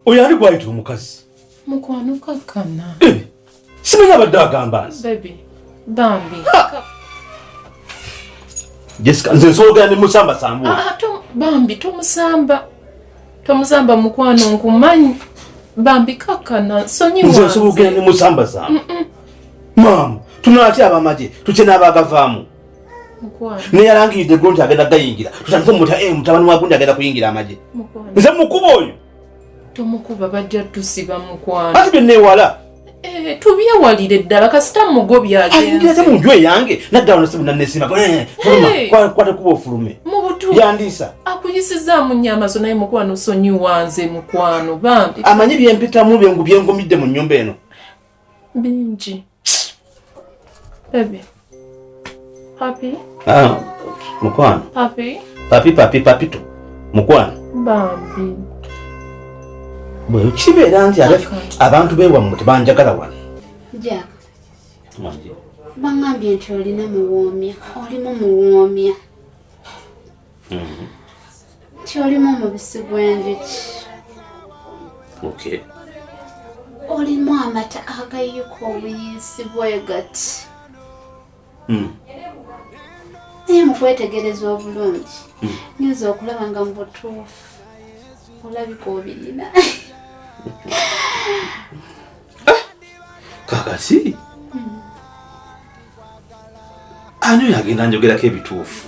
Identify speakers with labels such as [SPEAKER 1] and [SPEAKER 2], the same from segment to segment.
[SPEAKER 1] oyo ani gwayita omukazi mukwano
[SPEAKER 2] kakkana eh, simanyi
[SPEAKER 1] abadde agamba nzi
[SPEAKER 2] bambi
[SPEAKER 1] jessica nze nsoogera ne musamba sambu ah, ah, bambi
[SPEAKER 2] tomusamba tomusamba mukwano nkumanyi bambi kakkana sonyiwa nze nsoogera ne musamba
[SPEAKER 1] sambu maama tunatya abamagye tukye n'abagavaamu
[SPEAKER 2] naye alangiride gwo
[SPEAKER 1] nti agenda gayingira tutandike omuta eh, mutabani wa gundi agenda kuyingira amagye nze mukuba
[SPEAKER 2] oyo
[SPEAKER 1] tomukuba
[SPEAKER 2] bajja tusiba mukwano ati byenewala
[SPEAKER 1] eh, tubyewalire
[SPEAKER 2] ddala kasita mugobyagenzate mu nju eyange
[SPEAKER 1] naddala nasibu nanesima eh, kwata kuba ofulume yandiisa akuyisizaamu
[SPEAKER 2] nyama zo naye mukwano sonyiwanze mukwano bambi amanyi byempitamu
[SPEAKER 1] byengumidde mu nyumba eno Bingi.
[SPEAKER 2] Baby. Papi. Ah,
[SPEAKER 1] mukwano. Papi.
[SPEAKER 2] Papi, papi, papi tu.
[SPEAKER 1] Mukwano. Bambi. Bwe kibeera nti abantu beewammwe tebanjagala wano. Jack.
[SPEAKER 3] Mwanje. Bangambye nti olina muwoomya, olimu muwoomya. kyolimu omubisi gw'enjuki
[SPEAKER 1] okay.
[SPEAKER 3] olimu amata agayuka obuyiisi bwegati hmm. naye mukwetegereza obulungi hmm. nyinza okulaba nga mubutuufu olabika obirina ah!
[SPEAKER 1] kakasi hmm. ani oyo agenda njogerako ebituufu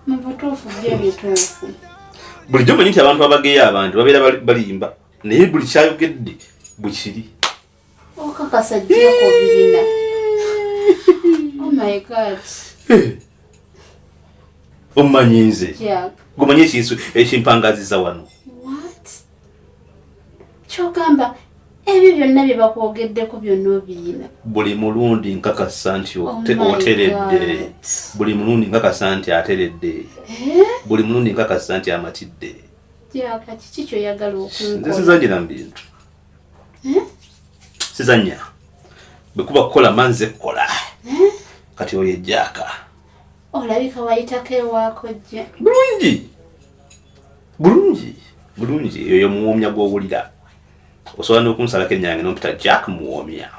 [SPEAKER 3] mubutuufu bye bituufu bulijjo
[SPEAKER 1] manyi nti abantu abageya abantu babeera balimba naye buli kyayogedde bwekiri
[SPEAKER 3] okakasa oh, jjako birina oh my god eh.
[SPEAKER 1] omanyi nze gomanyi
[SPEAKER 3] ekinsu
[SPEAKER 1] ekimpangaziza wano
[SPEAKER 3] kyogamba ebyo byonna bye bakwogeddeko byonna obiyina buli mulundi
[SPEAKER 1] nkakasa nti oh oteredde buli mulundi nkakasa nti ateredde eh? buli mulundi nkakasa nti amatidde
[SPEAKER 3] kiki kyoyagala okunze sizanyira mu bintu
[SPEAKER 1] eh? sizanya bwekuba kukola manze kukola eh? kati oyo ejjaaka olabika
[SPEAKER 3] wayitako ewaako jja bulungi
[SPEAKER 1] bulungi bulungi eyo yomuwomya gwowulira osobola nokunsalako enyange nompita jack muwomya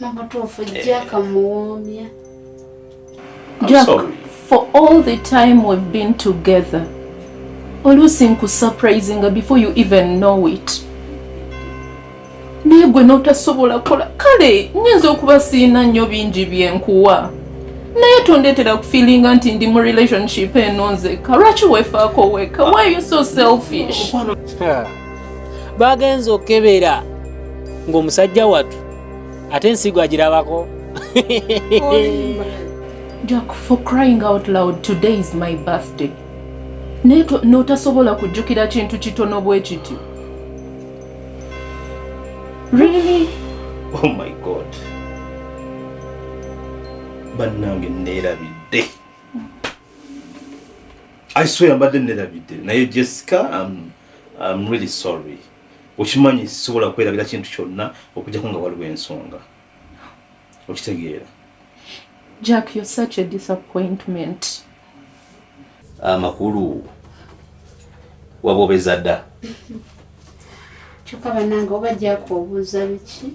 [SPEAKER 1] mubutuufu
[SPEAKER 3] eh. jack muwomya
[SPEAKER 2] jack for all the time we've been together oluusi nkusurprisinga before you even know it naye gwe n'otasobola kola kale nyinza okuba siina nnyo bingi byenkuwa naye tondeetera kufiilinga nti ndi mu relationship eno nzeka lwaki wefaako weka why you so selfish
[SPEAKER 4] bagenza okukebera ng'omusajja watu ate ensigo agirabako
[SPEAKER 2] jack for crying out loud today is my birthday naye n'otasobola kujjukira kintu kitono bwe kityo Really? Oh
[SPEAKER 1] my God. Bannange nneerabidde. I swear mbadde nneerabidde naye Jessica I'm, I'm really sorry. Okimanyi sisobola kwerabira kintu kyonna okujjako nga waliwo ensonga. Okitegeera?
[SPEAKER 2] Jack, you're such a disappointment. amakulu
[SPEAKER 1] wabobeza dda
[SPEAKER 3] kyokka banange oba jako obuuza biki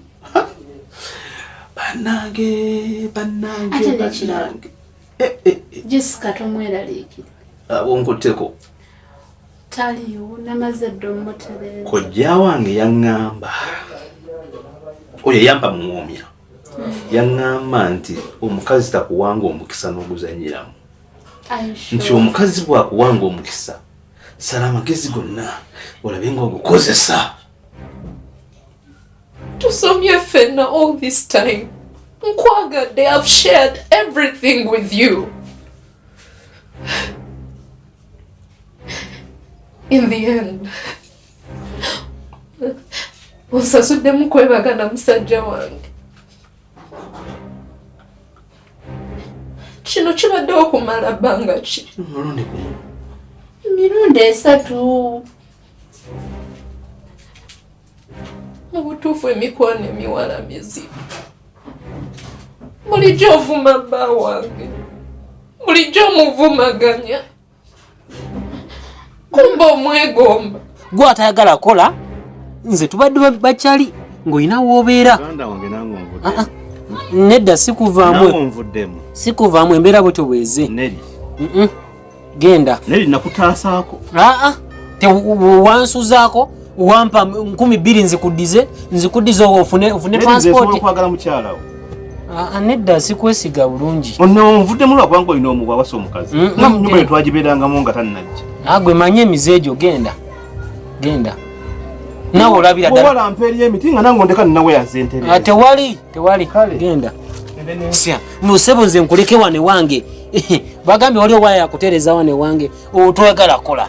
[SPEAKER 3] banange
[SPEAKER 1] banange ate
[SPEAKER 3] nekirala eh, eh, eh. jessica tomweraliikira onkutteko taliyo namaze dda omutereza kojja wange
[SPEAKER 1] yaŋŋamba oyo yampa muwoomya yaŋŋamba nti omukazi takuwanga omukisa n'oguzanyiramu nti omukazi bwakuwanga omukisa sala amagezi gonna olabe nga ogukozesa
[SPEAKER 2] tusomye fenna all this time nkwagadde have shared everything with you in the end onsasuddemu kwebaga na musajja wange kino kibadde okumala bbanga ki
[SPEAKER 3] mirundi esatu
[SPEAKER 2] mu butuufu emikwano emiwala mizibu bulijjo ovuma bba wange bulijjo omuvumaganya kumba omwegomba
[SPEAKER 4] gwe atayagala kola nze tubadde bakyali ng'olina woobeera ah, ah. nedda sikuvaamu sikuvaamu embeera bwetyo bweze genda
[SPEAKER 1] ah,
[SPEAKER 4] wansuzaako wampa nkumi bbiri nzikudize nzikudize ofune ofune transport okwagala mukyala wo ah, ah, nedda sikwesiga bulungi ono nvuddemu lwakubanga
[SPEAKER 1] olina omuwa wasa omukazi mm, mm, nga munyumba mm. yetwagibeerangamu nga tannajja agwe ah, manye emize egyo
[SPEAKER 4] genda genda nawe olabira ddala mpa eri emiti nga nange
[SPEAKER 1] ondeka ninawe yazentere tewali tewali
[SPEAKER 4] genda sya musebo nze nkuleke wane wange bagambye wali owaya yakutereeza wane wange otwagala kola